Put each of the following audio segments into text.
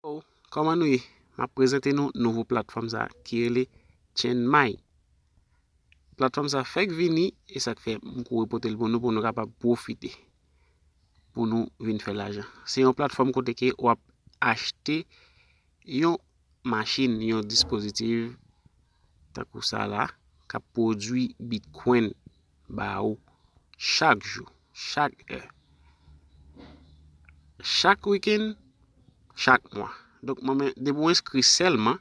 Hello, kòman nou ye? Map prezante nou nouvo platfòm sa ki rele Chenmay. Platfòm sa fèk vini e sak fè m kouri pote l pou nou pou nou kapab profite. Pou nou vin fè lajan. Se yon platfòm kote ke wap achte yon machin, yon dispozitiv takou sa la kap pwodwi bitcoin. ba ou chak jou, chak è, chak wikenn, chak mwa. Donk mwen men, depi ou enskri sèlman,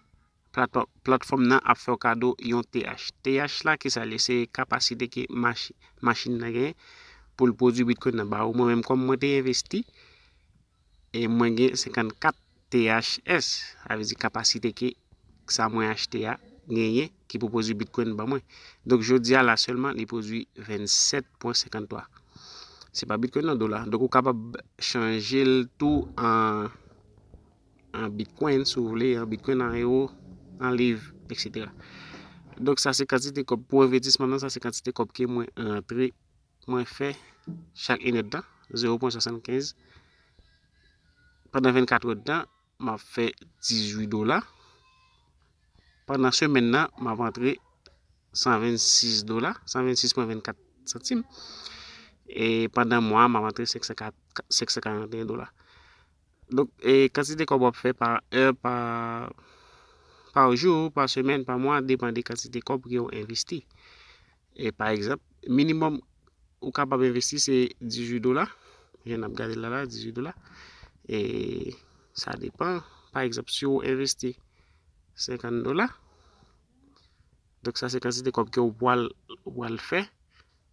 platfòm nan ap fè ou kado yon TH. TH la ki sa li ye? Se kapasite ke machin nan genyen pou l pwodui bitkoin nan ba ou. Mwen menm kòm mwen te envesti. e mwen gen 54 THS sa vle di kapasite ke sa mwen achte a genyen ki pou pwodwi bitcoin ban mwen donk jodia la sèlman li pwodwi 27.53 se pa bitcoin nan dola donk ou kapab chanjel tou an bitcoin si w vle an bitcoin an euro an liv etc donk sa se kantite kòb pou envètisman nan sa se kantite kòb ke mwen rantre mwen fè chak inèd tan, 0 pwen 75, pandan 24 èd tan, m ap fè 18 dola, pandan semèn nan, m ap antre 126 dola, 126 pwen 24 santim, e pandan mwa, m ap antre 541 dola. Donk, e kantite kòb w ap fè pa è, pa, pa jou, pa semèn, pa mwa, depan de kantite kòb ke w envesti. Pa egzanp, minimòm ou kapab envesti se 18 dola, jan n ap gade l la la, 18 dola. E sa depan, pa egzanp, si ou envesti 50 dola, donk sa se kantite kòb ke ou pral fè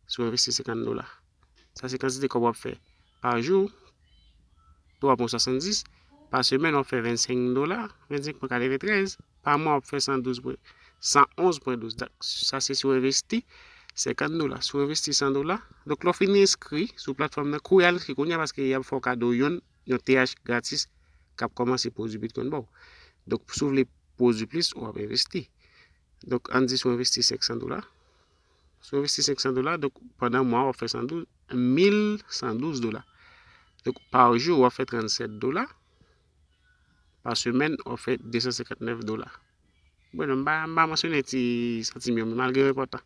si ou envesti 50 dola. Sa se kantite kòb w ap fè Pa jou, 3 pwen 70. Pa semèn, w ap fè 25 dola, 25 pwen 93. Pa mwa, w ap fè 112 pwen, 111 pwen 12. Dak, sa se si w envesti 50 dola. Si w envesti 100 dola, donk lè w fin enskri sou platfòm nan, kouri al enskri kounye a paske y ap fè w kado yon yon TH gratis k ap kòmanse pwodui Bitcoin ba w. Donk si w vle pwodui plis, w ap envesti. Donk an n di si w envesti 500 dola. Si w envesti 500 dola, donk pandan mwa w ap fè 112, 1112 dola. Donk pa jou w ap fè 37 dola, pa semèn w ap fè 259 dola. Bon, m pa m pa mansyone ti santim yo, men malgre yo enpòtan.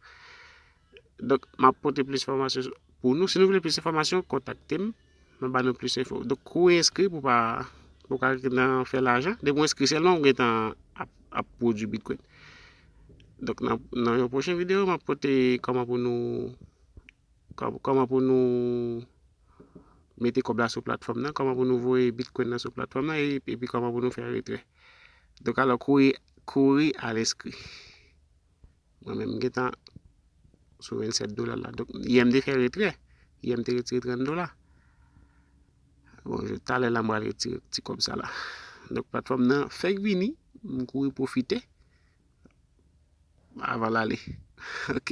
Donk m ap pote plis fòmasyon pou nou. Si nou vle plis enfòmasyon, kontakte m. Mwen ba nou plis enfo. Donk kou ou enskri pou pa pou ka nan fè lajan, depi ou enskri sèlman ou gentan ap ap pwodui bitcoin. Donk nan nan yon pwochen video map pote kòman pou nou kòman pou nou mete kòb la sou platfòm nan, kòman pou nou voye bitcoin nan sou platfòm nan epi kòman pou nou fè retrè. Donk alò kouri kouri al enskri. Mwen menm m gentan sou 27 dola la. Donk, yè m te fè retrè. Yè m te retire 30 dola. Bon, talè la m pral retire ti kòb sa la. Donk, platfòm nan fèk vini. M kouri pwofite. Avan l ale. Ok?